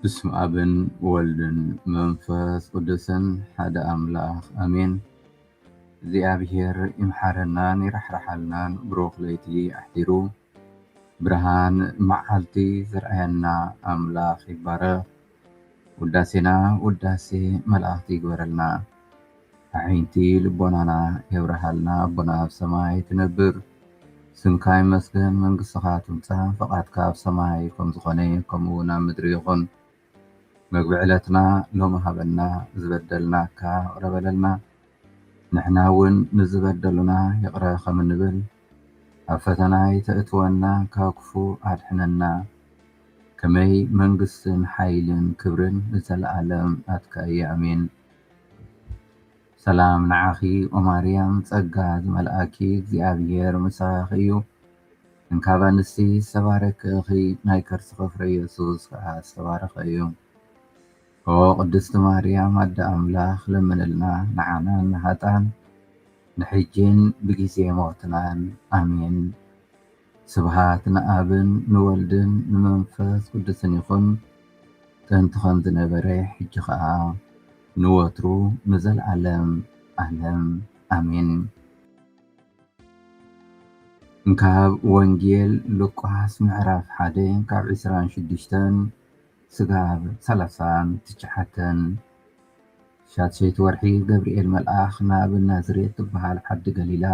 ብስመ ኣብን ወልድን መንፈስ ቅዱስን ሓደ ኣምላኽ ኣሜን። እግዚኣብሔር ይምሓረናን ይራሕርሓልናን ብሩኽ ለይቲ ኣሕዲሩ ብርሃን መዓልቲ ዘርኣየና ኣምላኽ ይባረኽ። ውዳሴና ውዳሴ መላእኽቲ ይግበረልና። ኣዒንቲ ልቦናና የብርሃልና ኣቦና ኣብ ሰማይ ትነብር ስምካ ይመስገን መንግስትኻ ትምጻእ ፈቓድካ ኣብ ሰማይ ከም ዝኾነ ከምኡ እውን ኣብ ምድሪ ይኹን መግቢ ዕለትና ሎሚ ሃበና ዝበደልናካ ይቅረ በለልና ንሕና እውን ንዝበደሉና ይቅረ ከም እንብል ኣብ ፈተና ኣይተእትወና ካብ ክፉእ ኣድሕነና ከመይ መንግስትን ሓይልን ክብርን ንዘለኣለም ናትካ እዩ ኣሜን። ሰላም ንዓኺ ኦማርያም ጸጋ ዝመልኣኪ እግዚኣብሔር ምሳኺ እዩ እንካብ ኣንስቲ ዝተባረኪ እኺ ናይ ከርስኺ ፍረ ኢየሱስ ከኣ ዝተባረኸ እዩ ኦ ቅድስቲ ማርያም ኣደ ኣምላኽ ለምንልና ንዓናን ንሃጣን ንሕጂን ብጊዜ ሞትናን ኣሜን። ስብሃት ንኣብን ንወልድን ንመንፈስ ቅዱስን ይኹን ጥንቲ ከምዝ ነበረ ሕጂ ከኣ ንወትሩ ንዘልኣለም ኣለም ኣሜን። ካብ ወንጌል ሉቃስ ምዕራፍ ሓደ ካብ ዕስራን ሽዱሽተን ስጋብ ሰላሳን ትሽዓተን ሻድሸይቲ ወርሒ ገብርኤል መልኣኽ ናብ ናዝሬት ትብሃል ዓዲ ገሊላ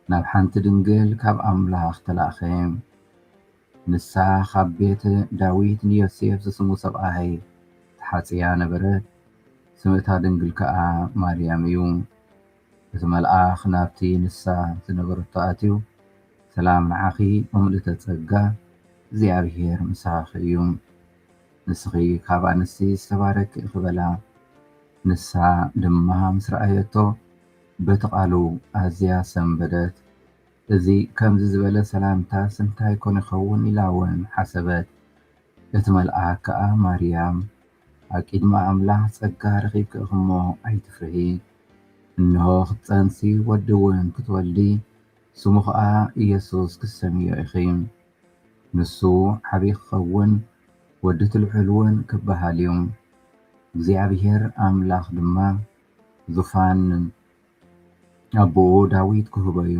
ናብ ሓንቲ ድንግል ካብ ኣምላኽ ተላእከ። ንሳ ኻብ ቤት ዳዊት ንዮሴፍ ዝስሙ ሰብኣይ ተሓጽያ ነበረት፣ ስም እታ ድንግል ከኣ ማርያም እዩ። እቲ መልኣኽ ናብቲ ንሳ ዝነበረቶ ኣትዩ፣ ሰላም ንዓኺ ኦ ምልእተ ጸጋ፣ እግዚኣብሄር ምሳኺ እዩ። ንስኺ ኻብ ኣንስቲ ዝተባረክኪ ኢኺ በላ። ንሳ ድማ ምስ ረኣየቶ በቲ ቃሉ ኣዝያ ሰንበደት። እዚ ከምዚ ዝበለ ሰላምታስ እንታይ ኮን ይኸውን ኢላ ውን ሓሰበት። እቲ መልኣክ ከኣ ማርያም ኣብ ቂድሚ ኣምላኽ ጸጋ ረኺብኪ ኢኺ እሞ ኣይትፍርሂ። እንሆ ክትጸንሲ ወዲ ውን ክትወልዲ ስሙ ከኣ ኢየሱስ ክትሰምይዮ ኢኺ። ንሱ ዓቢ ክኸውን ወዲ እቲ ልዑል ውን ክበሃል እዩ። እግዚኣብሔር ኣምላኽ ድማ ዙፋን ኣቦኡ ዳዊት ክህቦ እዩ፣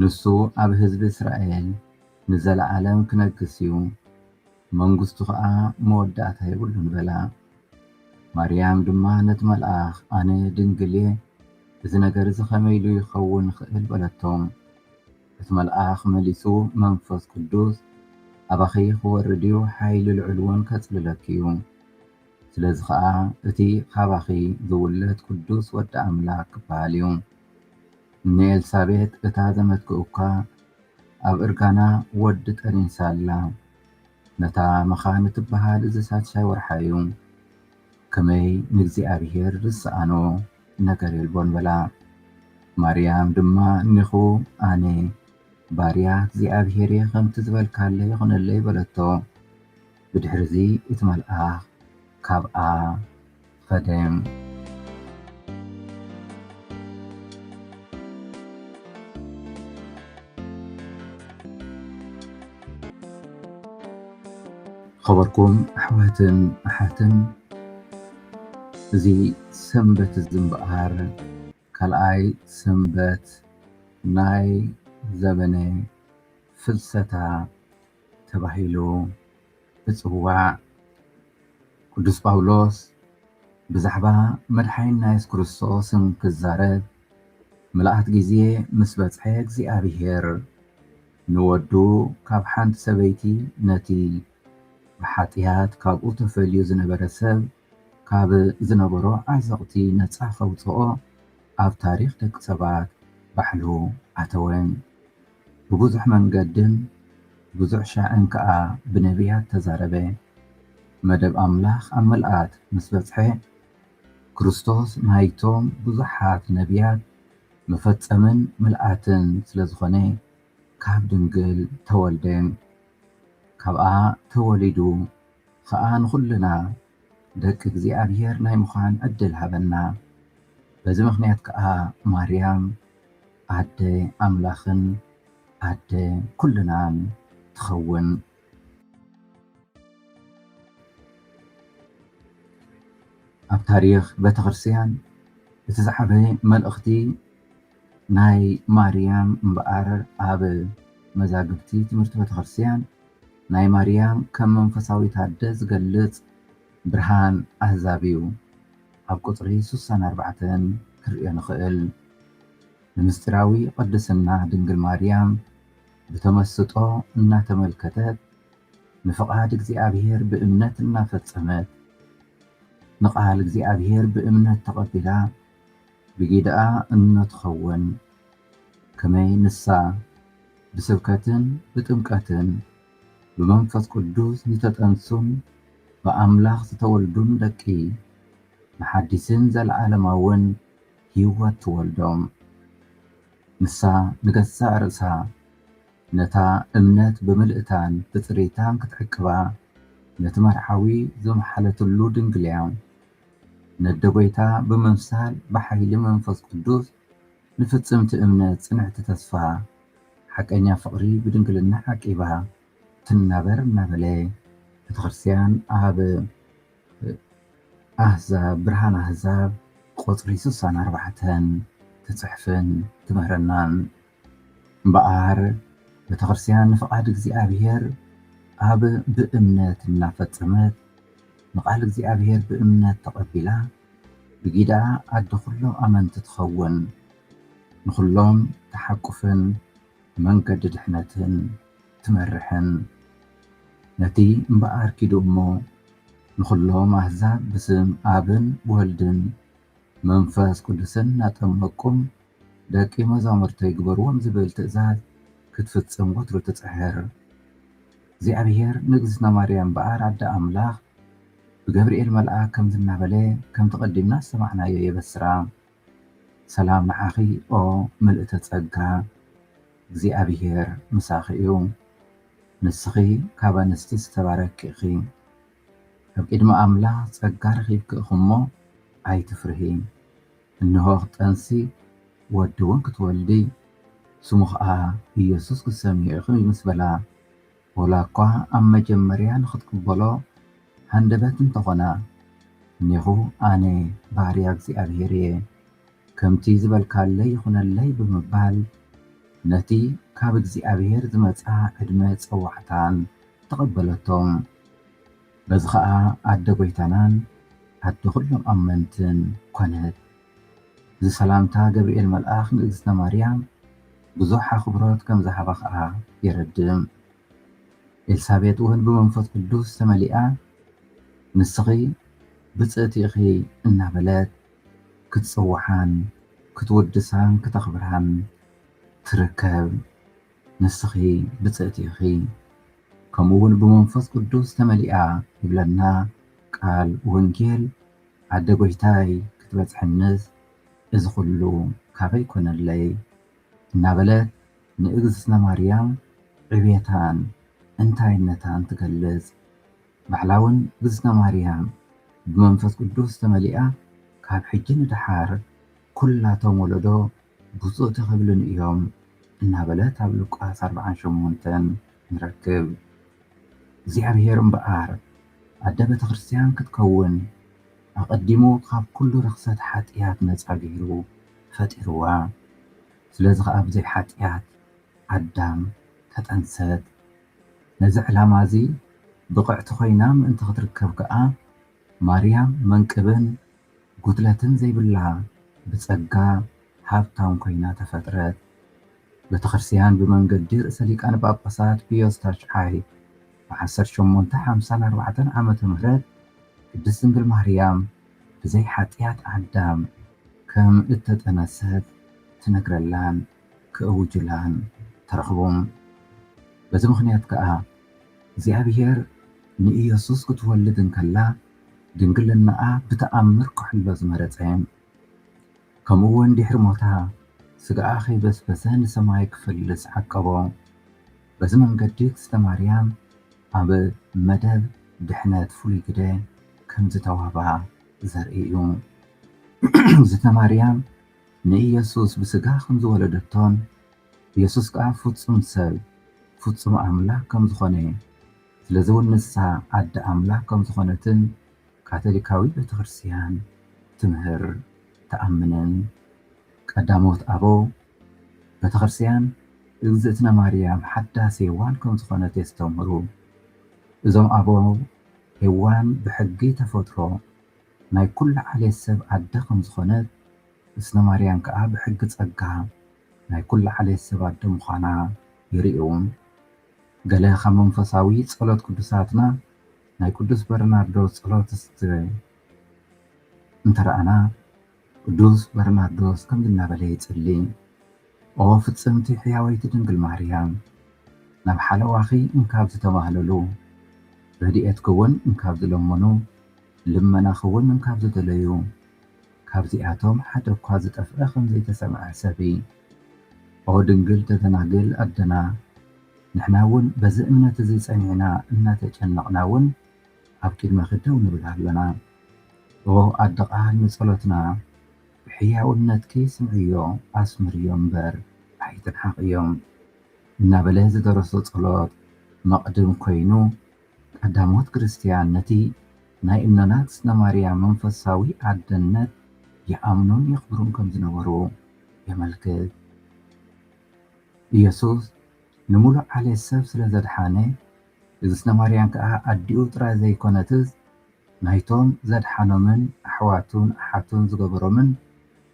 ንሱ ኣብ ህዝቢ እስራኤል ንዘለኣለም ክነግስ እዩ፣ መንግስቱ ኸኣ መወዳእታ የብሉን በላ። ማርያም ድማ ነቲ መልኣኽ ኣነ ድንግል እየ፣ እዚ ነገር እዚ ኸመይ ኢሉ ይኸውን ይኽእል በለቶ። እቲ መልኣኽ መሊሱ መንፈስ ቅዱስ ኣባኺ ኽወርድ እዩ፣ ሓይሊ ልዑል እውን ከጽልለኪ እዩ። ስለዚ ኸኣ እቲ ኻባኺ ዚውለድ ቅዱስ ወዲ ኣምላኽ ኪበሃል እዩ። ንኤልሳቤጥ እታ ዘመትኪ እኳ ኣብ እርጋና ወዲ ጠኒሳ ኣላ። ነታ መኻን እትበሃል እዚ ሳድሻይ ወርሓ እዩ። ከመይ ንእግዚኣብሄር ዚሰኣኖ ነገር የልቦን በላ። ማርያም ድማ እኔኹ ኣነ ባርያ እግዚኣብሄር እየ ኸምቲ ዝበልካለይ ይኹነለይ በለቶ። ብድሕርዚ እቲ መልኣኽ ካብኣ ኸደ። ኸበርኩም ኣሕዋትን ኣሓትን እዚ ሰንበት እዚ እምበኣር ካልኣይ ሰንበት ናይ ዘበነ ፍልሰታ ተባሂሉ እጽዋዕ። ቅዱስ ጳውሎስ ብዛዕባ መድሓኒና የሱስ ክርስቶስን ክዛረብ ምልኣት ግዜ ምስ በጽሐ እግዚኣብሄር ንወዱ ካብ ሓንቲ ሰበይቲ ነቲ ብሓጥያት ካብኡ ተፈልዩ ዝነበረ ሰብ ካብ ዝነበሮ ዓዘቕቲ ነጻ ከውጽኦ ኣብ ታሪኽ ደቂ ሰባት ባዕሉ ኣተወ። ብብዙሕ መንገድን ብዙሕ ሻዕን ከኣ ብነብያት ተዛረበ። መደብ ኣምላኽ ኣብ ምልኣት ምስ በጽሐ፣ ክርስቶስ ናይቶም ብዙሓት ነብያት መፈጸምን ምልኣትን ስለ ዝኾነ ካብ ድንግል ተወልደ። ካብኣ ተወሊዱ ኸኣ ንኹልና ደቂ እግዚኣብሔር ናይ ምዃን ዕድል ሃበና። በዚ ምኽንያት ከኣ ማርያም ኣደ ኣምላኽን ኣደ ኩልናን ትኸውን። ኣብ ታሪኽ ቤተክርስትያን እቲ ዝዓበየ መልእኽቲ ናይ ማርያም እምበኣር ኣብ መዛግብቲ ትምህርቲ ቤተክርስቲያን ናይ ማርያም ከም መንፈሳዊት ኣደ ዝገልጽ ብርሃን ኣህዛብ እዩ ኣብ ቁጽሪ ሱሳን ኣርባዕተን ክንርእዮ ንኽእል። ንምስጢራዊ ቅድስና ድንግል ማርያም ብተመስጦ እናተመልከተት ንፍቓድ እግዚኣብሔር ብእምነት እናፈጸመት ንቃል እግዚኣብሔር ብእምነት ተቐቢላ ብጊደኣ እምነ ትኸውን፣ ከመይ ንሳ ብስብከትን ብጥምቀትን ብመንፈስ ቅዱስ ዝተጠንሱን ብኣምላኽ ዝተወልዱን ደቂ ንሓዲስን ዘለዓለማውን ሕይወት ትወልዶም። ንሳ ንገዛእ ርእሳ ነታ እምነት ብምልእታን ብጽሬታን ክትዕቅባ ነቲ መርዓዊ ዘምሓለትሉ ድንግልያ ነደ ጐይታ ብምምሳል ብሓይሊ መንፈስ ቅዱስ ንፍጽምቲ እምነት ጽንዕቲ ተስፋ ሓቀኛ ፍቕሪ ብድንግልና ዓቂባ ትናበር እናበለ ቤተክርስትያን ኣብ ኣሕዛብ ብርሃን ኣሕዛብ ቁጽሪ ስሳን ኣርባዕተን ትጽሕፍን ትምህረናን እምበኣር ቤተክርስትያን ንፍቓድ እግዚኣብሔር ኣብ ብእምነት እናፈጸመት ንቃል እግዚኣብሔር ብእምነት ተቐቢላ ብጊዳ ኣደ ኩሎም ኣመንቲ ትኸውን ንኹሎም ተሓቁፍን መንገዲ ድሕነትን ትመርሕን ነቲ እምበኣር ኪዱ እሞ ንኹሎም ኣሕዛብ ብስም ኣብን ወልድን መንፈስ ቅዱስን እናጠመቅኩም ደቂ መዛሙርተይ ግበርዎም ዝብል ትእዛዝ ክትፍጽም ወትሩ ትጽሕር። እግዚኣብሔር ንእግዝእትና ማርያም እምበኣር ኣደ ኣምላኽ ብገብርኤል መልኣክ ከምዚ እናበለ ከምቲ ቀዲምና ዝሰማዕናዮ የበስራ ሰላም ንዓኺ ኦ ምልእተ ጸጋ እግዚኣብሔር ምሳኺ እዩ ንስኺ ካብ ኣንስቲ ዝተባረኪ ኢኺ። ኣብ ቅድሚ ኣምላኽ ጸጋ ረኺብኪ እኺ'ሞ ኣይትፍርሂ። እንሆ ክትጠንሲ ወዲ'ውን ክትወልዲ፣ ስሙ ኸኣ ኢየሱስ ክትሰምይዮ ኢኺ ምስ በላ፣ ወላኳ ኣብ መጀመርያ ንኽትቅበሎ ሃንደበት እንተ ኾና፣ እኔኹ ኣነ ባርያ እግዚኣብሔር እየ፣ ከምቲ ዝበልካለይ ይኹነለይ ብምባል ነቲ ካብ እግዚኣብሔር ዝመጽኣ ዕድመ ጸዋዕታን ተቐበለቶም። በዚ ኸኣ ኣደ ጐይታናን ኣደ ዅሎም ኣመንትን ኰነት። እዚ ሰላምታ ገብርኤል መልኣኽ ንእግዝእትነ ማርያም ብዙሕ ኣኽብሮት ከም ዝሃባ ኸኣ የረድእ። ኤልሳቤጥውን ብመንፈስ ቅዱስ ተመሊኣ ንስኺ ብፅእቲ ኢኺ እናበለት ክትፅውዓን ክትውድሳን ክተኽብራን ትርከብ። ንስኺ ብፅእቲ ኢኺ ከምኡ ውን ብመንፈስ ቅዱስ ተመሊኣ ይብለና ቃል ወንጌል ኣደ ጎይታይ ክትበፅሕንስ እዚ ኩሉ ካበይ ኮነለይ እናበለት ንእግዝእትነ ማርያም ዕብየታን እንታይነታን ትገልፅ ባዕላ ውን እግዝእትነ ማርያም ብመንፈስ ቅዱስ ተመሊኣ ካብ ሕጂ ንደሓር ኩላቶም ወለዶ ብፁዕ ተቐብልን እዮም እናበለት ኣብ ሉቃስ ኣርብዓን ሸሞንተን ንረክብ። እግዚኣብሔር እምበኣር ኣደ ቤተ ክርስቲያን ክትከውን ኣቐዲሙ ካብ ኩሉ ርኽሰት ሓጥያት ነጻ ገይሩ ፈጢርዋ። ስለዚ ኸኣ ብዘይ ሓጥያት ኣዳም ተጠንሰት። ነዚ ዕላማ እዚ ብቕዕቲ ኮይና ምእንቲ ክትርከብ ከኣ ማርያም መንቅብን ጉድለትን ዘይብላ ብጸጋ ሃብታም ኮይና ተፈጥረት። ቤተክርስቲያን ብመንገዲ ርእሰ ሊቃነ ጳጳሳት ፒዮስ ታሽዓይ ብ ዓሰርተ ሸሞንተ ሓምሳን ኣርባዕተን ዓመተ ምህረት ቅድስት ድንግል ማርያም ብዘይ ሓጥያት ኣዳም ከም እተጠነሰት ትነግረላን ክእውጁላን ተረኽቡም በዚ ምኽንያት ከኣ እግዚኣብሔር ንኢየሱስ ክትወልድ እንከላ ድንግልናኣ ብተኣምር ክሕሎ ዝመረጸን ከምኡውን ድሕሪ ሞታ ስጋኣ ከይበስበሰ ንሰማይ ክፈልስ ዓቀቦ። በዚ መንገዲ እግዝእተ ማርያም ኣብ መደብ ድሕነት ፍሉይ ግደ ከም ዝተዋህባ ዘርኢ እዩ። እግዝእተ ማርያም ንኢየሱስ ብስጋ ከም ዝወለደቶን የሱስ ከኣ ፍጹም ሰብ ፍጹም ኣምላኽ ከም ዝዀነ፣ ስለዚውን ንሳ ኣደ ኣምላኽ ከም ዝዀነትን ካቶሊካዊት ቤተ ክርስትያን ትምህር ትኣምንን። ቀዳሞት ኣበው ቤተ ክርስትያን እግዝእትነ ማርያም ሓዳስ ሄዋን ከም ዝዀነት የስተምህሩ። እዞም ኣበው ሄዋን ብሕጊ ተፈጥሮ ናይ ኵሉ ዓሌት ሰብ ኣደ ከም ዝዀነት፣ እዝነ ማርያም ከኣ ብሕጊ ጸጋ ናይ ኩሉ ዓሌት ሰብ ኣደ ምዃና ይርእዩ'ውን። ገለ ካብ መንፈሳዊ ጸሎት ቅዱሳትና ናይ ቅዱስ በርናርዶስ ጸሎት እስተ እንተ ረኣና፣ ቅዱስ በርናርዶስ ከምዚ እናበለ ይጽሊ፣ ኦ ፍጽምቲ ሕያወይቲ ድንግል ማርያም፣ ናብ ሓለዋኺ እንካብ ዝተማህለሉ፣ ረድኤትኪ'ውን እንካብ ዝለመኑ፣ ልመናኺ'ውን እንካብ ዝደለዩ፣ ካብዚኣቶም ሓደ እኳ ዝጠፍኣ ከም ዘይተሰምዐ ሰብኢ። ኦ ድንግል ተደናግል ኣደና! ንሕና እውን በዚ እምነት እዚ ጸኒዕና እናተጨነቕና እውን ኣብ ቅድመኺ ደው ንብል ኣሎና። ኦ ኣደ ቃል ንጸሎትና ብሕያውነትኪ ስምዕዮ ኣስምርዮ እምበር ኣይትንሓቕዮ እናበለ ዝደረሶ ጸሎት መቕድም ኮይኑ፣ ቀዳሞት ክርስትያን ነቲ ናይ እኖና ትስነማርያም መንፈሳዊ ኣደነት ይኣምኑን የኽብሩን ከም ዝነበሩ የመልክት። ኢየሱስ ንምሉእ ዓሌት ሰብ ስለ ዘድሓነ፣ እግዝእትነማርያም ከኣ ኣዲኡ ጥራይ ዘይኰነትስ ናይቶም ዘድሓኖምን ኣሕዋቱን ኣሓቱን ዝገበሮምን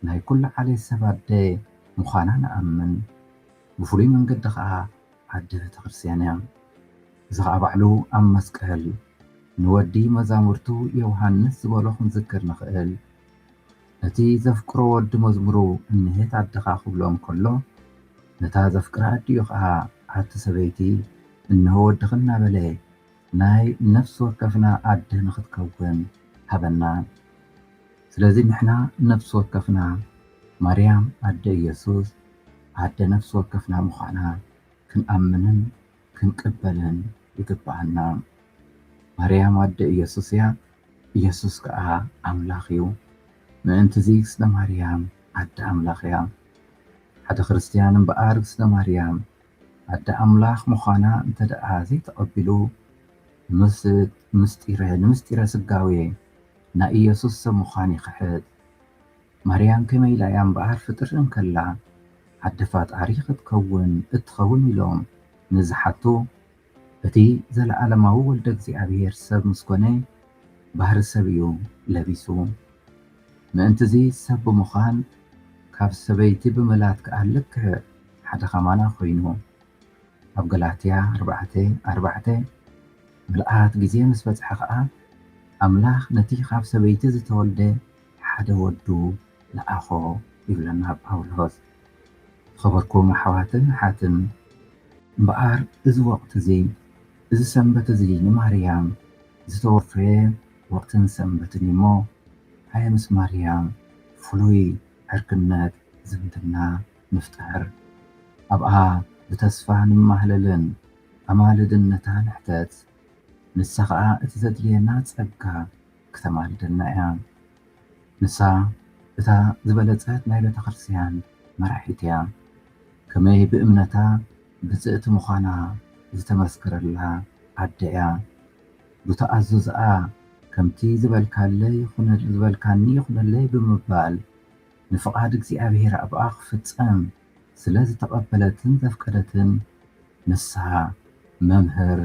ናይ ኵሉ ዓሌት ሰብ ኣደ ምዃና ንኣምን። ብፍሉይ መንገዲ ኸኣ፣ ዓዲ ቤተክርስትያን እያ። እዚ ኸኣ ባዕሉ ኣብ መስቀል ንወዲ መዛሙርቱ ዮውሃንስ ዝበሎ ክንዝክር ንኽእል። ነቲ ዘፍቅሮ ወዲ መዝሙሩ እንሄት ኣደኻ ክብሎ እንከሎ ነታ ዘፍቅራ ኣዲኡ ኸኣ ኣቲ ሰበይቲ እንሆ ወድኺ እናበለ ናይ ነፍሲ ወከፍና ኣደ ንኽትከውን ሃበና። ስለዚ ንሕና ነፍሲ ወከፍና ማርያም ኣደ ኢየሱስ፣ ኣደ ነፍሲ ወከፍና ምዃና ክንኣምንን ክንቅበልን ይግብኣና። ማርያም ኣደ ኢየሱስ እያ፣ ኢየሱስ ከኣ ኣምላኽ እዩ። ምእንት'ዚ ስለ ማርያም ኣደ ኣምላኽ እያ። ሓደ ክርስትያን እምበኣር ስለ ማርያም ኣደ ኣምላኽ ምዃና እንተደኣ ዘይተቐቢሉ ምስ ንምስጢረ ስጋዌ ናይ ኢየሱስ ሰብ ምዃን ይኽሕድ። ማርያም ከመይ ኢላ እያ እምበኣር ፍጥር እንከላ ኣደ ፋጣሪ ክትከውን እትኸውን ኢሎም ንዝሓቱ፣ እቲ ዘለኣለማዊ ወልደ እግዚኣብሔር ሰብ ምስ ኮነ ባህሪ ሰብ እዩ ለቢሱ። ምእንትዚ ሰብ ብምዃን ካብ ሰበይቲ ብምላድ ከኣ ልክዕ ሓደ ከማና ኮይኑ። ኣብ ገላትያ ኣርባዕተ ኣርባዕተ፣ ምልኣት ግዜ ምስ በጽሐ ከኣ ኣምላኽ ነቲ ካብ ሰበይቲ ዝተወልደ፣ ሓደ ወዱ ለኣኾ ይብለና ጳውሎስ። ዝኸበርኩም ኣሕዋትን ኣሓትን፣ እምበኣር እዚ ወቕቲ እዚ፣ እዚ ሰንበት እዚ ንማርያም ዝተወፈየ ወቕትን ሰንበትን እዩ እሞ፣ ሃየ ምስ ማርያም ፍሉይ ዕርክነት ዝምድና ንፍጠር። ኣብኣ ብተስፋ ንማህለልን ኣማልድነታ ንሕተት፣ ንሳ ኸኣ እቲ ዘድልየና ጸጋ ክተማልደልና እያ ንሳ እታ ዝበለጸት ናይ ቤተክርስትያን መራሒት እያ ከመይ ብእምነታ ብጽእቲ ምዃና ዝተመስከረላ ኣደ እያ ብተኣዙዝኣ ከምቲ ዝበልካኒ ይኹነለይ ብምባል ንፍቓድ እግዚኣብሔር ኣብኣ ክፍጸም ስለ ዝተቐበለትን ዘፍቀደትን ንሳ መምህር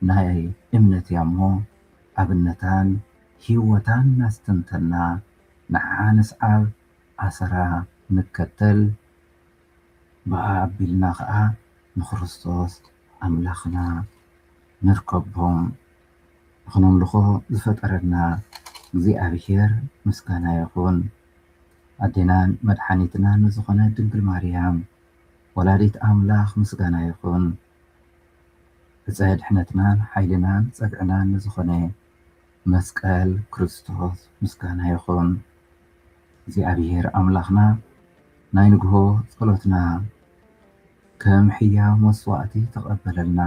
ናይ እምነት እያ እሞ ኣብነታን ሂወታን ናስተንተና ንዓዓ ንስዓብ ኣሰራ ንከተል ብኣ ኣቢልና ከኣ ንክርስቶስ ኣምላክና ንርከቦም ንክነምልኮ ዝፈጠረና እግዚኣብሄር ምስጋና ይኩን ኣዴናን መድሓኒትናን ንዝኮነት ድንግል ማርያም ወላዲት ኣምላክ ምስጋና ይኩን ብፃይ ድሕነትና ሓይልናን ፀግዕናን ንዝኾነ መስቀል ክርስቶስ ምስጋና ይኹን። እግዚኣብሔር ኣምላኽና ናይ ንግሆ ጸሎትና ከም ሕያው መስዋዕቲ ተቐበለልና።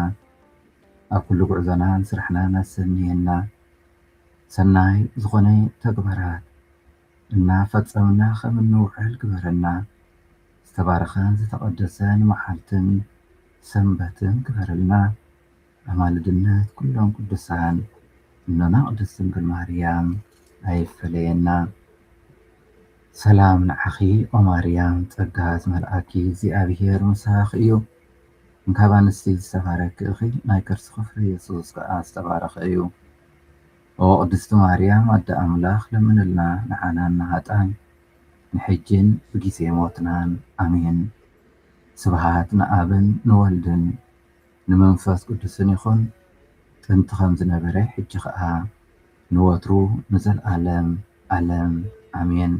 ኣብ ኩሉ ጉዕዞናን ስራሕናን ኣሰንየና። ሰናይ ዝኾነ ተግባራት እና ፈፀምና ከም እንውዕል ግበረልና ዝተባረኸን ዝተቐደሰን መዓልትን ሰንበትን ግበረልና ኣማልድነት ኩሎም ቅዱሳን እኖና ቅድስት ድንግል ማርያም ኣይፈለየና ሰላም ንዓኺ ኦማርያም ፀጋ ዝመልኣኪ እግዚኣብሔር ምሳኽ እዩ እንካብ ኣንስቲ ዝተባረኪ እኺ ናይ ከርስኺ ፍሬ የሱስ ከዓ ዝተባረኸ እዩ ኦዎ ቅድስቲ ማርያም ኣደ ኣምላክ ለምንልና ንዓናን ንሃጣን ንሕጂን ብጊዜ ሞትናን ኣሜን ስብሃት ንኣብን ንወልድን ንመንፈስ ቅዱስን ይኩን ጥንቲ ከምዝነበረ ሕጂ ከኣ ንወትሩ ንዘልኣለም ኣለም ኣሜን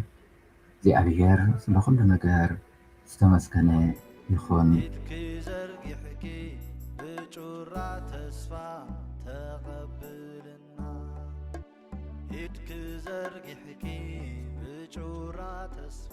እግዚኣብሔር ስለ ኩሉ ነገር ዝተመስገነ ይኩን። ኢድኪ ዘርጊሕኪ ብጩራ ተስፋ ተቐብልና ኢድኪ ዘርጊሕኪ ብጩራ ተስፋ